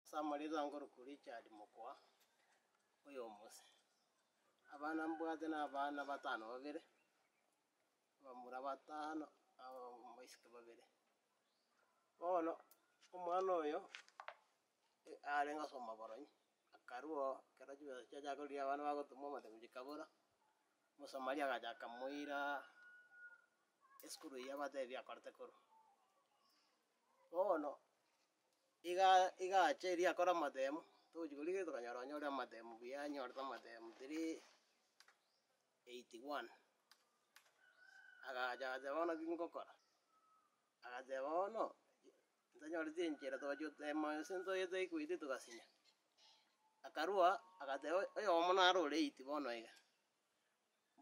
Ase amarigankoroku Richard mokwa oy'omose. Abana mbwate n'abana batano babere, abamura batano, abaiseke babere. Bono omwana oyo arenge ase omoboronyi, akarua oo, ekero chibesa chiachaka korigia abana bagotumwa amatemo chikabora, omosomari agacha akamoira esukuru eyio abatebi akorete korwa. Bono iga iga ache eria akore amatemo, togochia koria gete tokanyora onye ore amatemo buya anyorete amatemo three eighty one, agacha agateba bono ki ngokora, agateba bono ntonyoreti enchera togachia gotema gose ntoyete equity togasinya, akarua agateba oyomo naro ore eighty bono iga.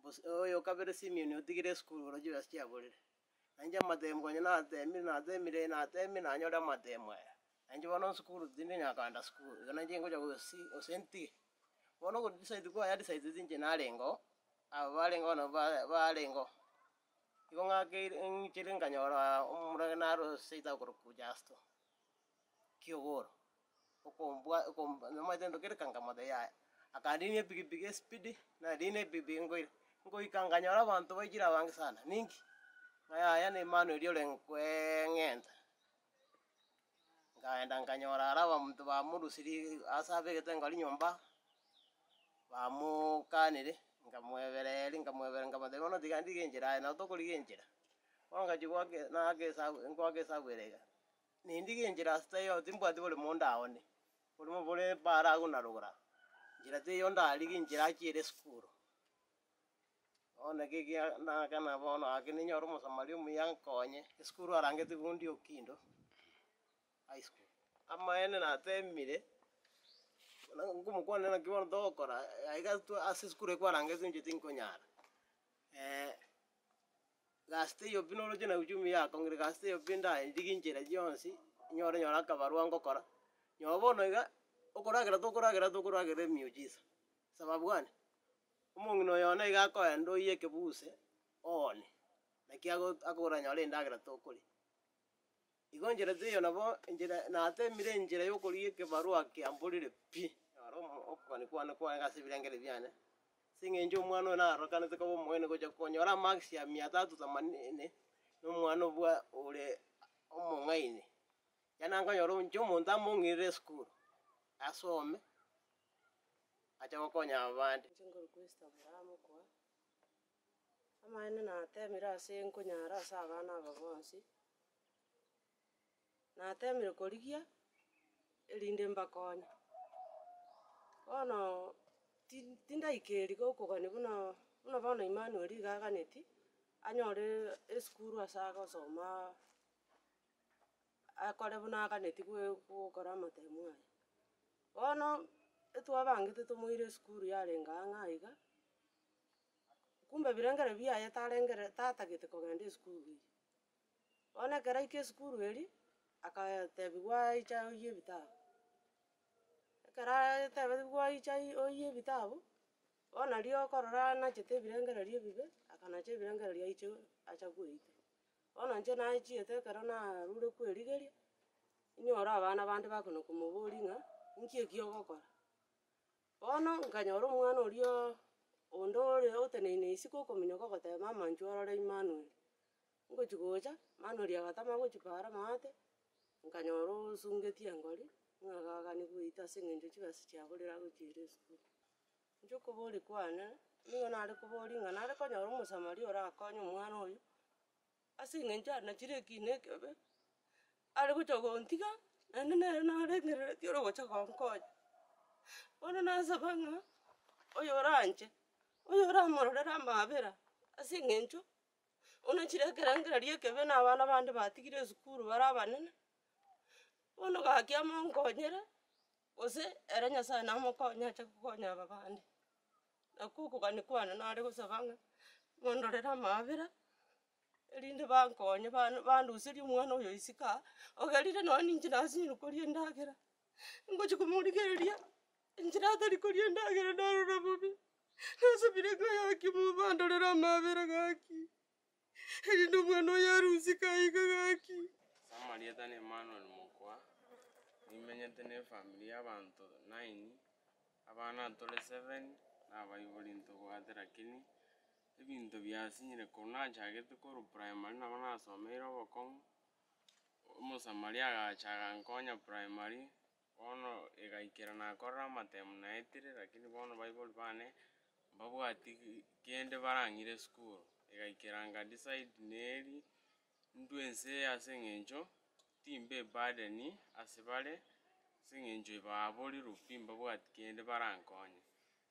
Bos- oyo o kabere Simioni otigire esukuru oroche chibesa chiaborire. Na inche amatemo konya natemire natemire natemire nanyore amatemo aya, na inche bono esukuru tindi konya koenda sukuru, igo na inche ngocha gosi gose ntige. Bono ogo decide kwaya decide tinche narenga oo, aba barenga oo nabo ba- barenga oo. Igo ng'akeire ng'ichire nkanyoraa omorwgena are oo seita okorokwa Justo. ki'ogoro, okombwa okomba namanyete ndoki ere kangamata yaya, akandenia epikipiki esipidi, nariini epikipiki nkoira, nkoika nkanyora abanto baikire abange sana, ninki? Ng'a yaya na Emmanuel orenge kweeng'enta. Nkaenda nkanyora ara abamonto bamorusirie ig ase abegete nkoroki nyomba, bamookanire, nkamwebera eri nkamwebera nkamotebia bono tiga ndigenchera aye, nabo tokorigenchera, bono ngachia goaka nagaka esabu ngoaka esabu ere iga. Nindige enchera ase taiyo, timbwati bore monto aone, bore bore bare agwo na rogoro agwo. Enchera teiyo ndarigie enchera achiere esukuru. Bono naki ekiya ndagakena bono gaki ninyore Omosamaria omuya nkonye, esukuru arangeti Fundi Okindo High School. Amaene natemire, buna nkomokwanera naki bono togokora, aiga twa ase esukuru ekwarangeti inche tinkonyara. Gasuta eyo pi noroche na uchumi yako, ng'ire gasuta eyo pi ndaye ndiri chinchera chionsi, nyore nyore akabarwa ngokora, nyoba bono iga, okoragera tokoragera tokoragera emiujiza, sababu gani? Omong'ina oyo one iga akoenda oiye ekebuse oone, naki ago akogora nyore endagera tokoria. Igo enchera teiyo nabo enchera nateemire enchera y'okorugia ekebarua kiamborire pi, naro omo okogania kwane kwarenge ase ebirengererio biane, ase eng'encho omwana oyo narokanete koba omoyeni gocha konyora amaakisi ya mia tatu themanini na omwana obua ore omong'aini. Ekiagera nankonyora inche omonto among'irire esukuru, asome, ache gokonya abande. Inche nkorokwa Esther Omoramo Okoa. Amaene natemire ase nkonyara ase abana aba bonsi, natemire korigia erinde mbakonye. Bono ti- tindaika eeri gokogania buna buna bono Emmanuel iga aganeti, anyore esukuru ase agosomaa akore buna aganeti goe- gokora amatemu aye. Bono etwabangete tomoire esukuru yarenge ang'aa iga. Kumbe ebirengererio biaye tarengere tatagete kogenda esukuru eye. Bono ekero aika esukuru eria, akatebiwa aicha oyie ebitabu. Ekero atebiwa aicha oyie ebitabu, bono aria okorora anachete ebirengererio ebibe, akanacha ebirengererio aiche acha koeita. Bono inche nachiete ekero narure kwerigeria, inyore abana bande bakona komoboria ng'a inki eki ogokora? Bono nkanyora omwana oria onde ore oteneine isiko okominyoka ogoteba, Mama inche orore Imanueli. Ngochia gocha, Imanueli agatama gochipara amaate, nkanyora osungetie engori, ng'a gakani goita ase eng'encho chibesa chiaborire agochiire esukuru. Inche okoboria kwane, nigo nare koboria ng'a nare konyora Omosamaria orakonye omwana oyo. Ase engencho anachire ekiina ekebe, are gocha gontiga, naende nere nareng'erereti ore gocha gonkonya. Bono nasaba ng'a oyo oranche, oyo oramororere amaabera ase eng'encho buna chire ekerengererio ekebe na abana bande batigire esukuru bare abanene, bono gaki amo onkonyere. Gose ere Nyasae namokonye ache kokonya aba bande. Nakwo okogania kwane nare gosaba ng'a mondorere amaabera, erinde bankonye ban- bandoserie omwana oyo isiko aa, ogerire nonye ninche nasinyire koria endagera, ngochia komorigereria inche natari koria endagera narora bobe, nasabire ng'a gaki Mungu andorere amaabera gaki. erinde omwana oyo arusike aika gaki. Ase amarieta na Emmanuel Mokwa, nimenyete ne efamiri ya abanto nine, abana tore seven na abaibori ntobwate lakini ebinto biasinyire korwa nachagete korwa primary nabo nasomeire obokong'u, Omosamaria agacha agankonya primary. Bono egaikera nakorora amatemu naetire, lakini bono baibori bane mbabwati kende barang'ire esukuru. Egaikera nga decide neri ndue ense eye ase eng'encho timbe eburden ase bare, ase eng'encho ebaaboriru pi mbabwati kende barankonye.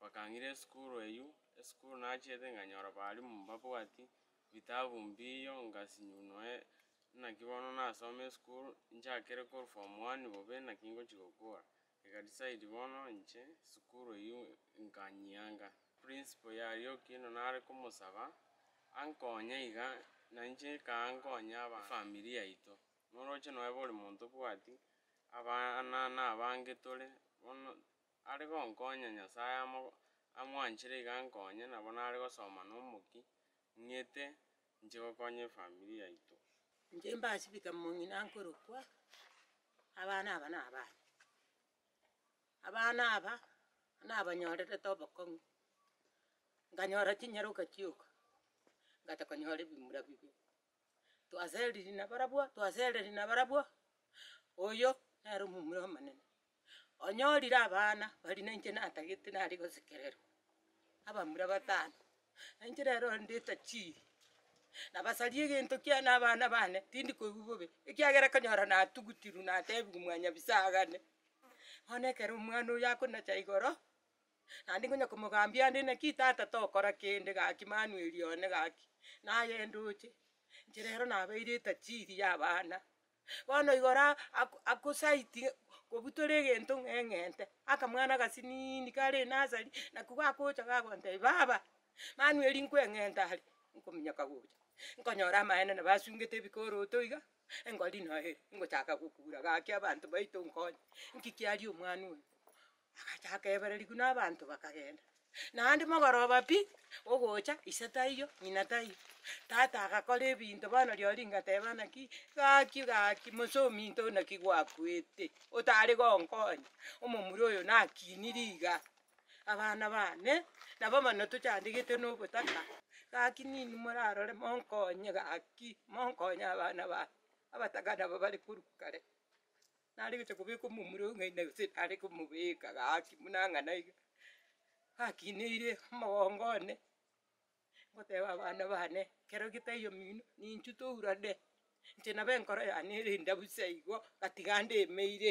Bakang'ira esukuru eyio, esukuru nachiete nkanyora balimu mbabwati bitabu mbiiyo ngasinywa noe naki bono nasome esukuru nchakire korwa form one bobe naki ngochia gokora. Ega decide bono inche esukuru eyio nkanyianga. Principal yarioki na nare komosaba ankonye iga na inche nkaa nkonya aba efamiri yaito. Noroche noe bori monto obwati abana na abange tore bono. Are gonkonya, Nyasae amo amwanchire iga ankonye, nabo nare gosoma nomoki, ng'ete nche gokonya efamiri yaito. Inche mbasibika mong'ina nkorokwa, abana aba nabane. Abana aba nabanyorerete obokong'u, nkanyora chinyaroka chioka, ngata konyora ebimura bibe. twaseriri nabarabwo twasereri nabarabwo, oyo nere omomura omonene, onyorire abana baria nainche natagete naria gosekererwa, abamura batano, nainche nere ondete chi, nabasari egento kiane na abana bane, tindi koigwa bobe, ekiagera kanyora natugutirwe natebiwa mwanyabisaga ane, bono ekero omwana oyo akonacha igoro. Naende nkonya komogambia ande naki tata tokora kende gaki manu eria one gaki naye ndoche inche rero nabeire etajiri ya abana bono igo ra ako akosaidie kobua tore egento ng'a eng'ente akamwana agasiniini kare enasari nako gakocha gakontebi baba manu eri nkoeng'enta are nkominyoka gocha nkonyora amaene nabo asungete ebikoroto iga engori naye ngochaka gokura gaki abanto baito nkonye nki kiaria omwana oyo. Agacha akebera riguna abanto bakagenda. Naende mogoroba pi, ogocha, ise taiyo, ng'ina taiyo. Tata agakora ebinto bono riori ngateba naki, gaki gaki mose ominto oo naki gwakuete, otare gonkonya, omomura oyo nakinire iga, abana bane nabo bono tochandegete na obotaka, gaki ninwe morarore monkonye gaki, monkonye abana bane, abataka nabo bare korwa kare. Nare gocha kobeka omomura oo ng'ai nagose nare komobeka gaki buna ang'e naiga, gakineire omogongo one, ngoteba abana bane, ekero getaiyo omino ninchutourane, inche nabo enkoro yane ere endabu seigo, gatiga ndemeire.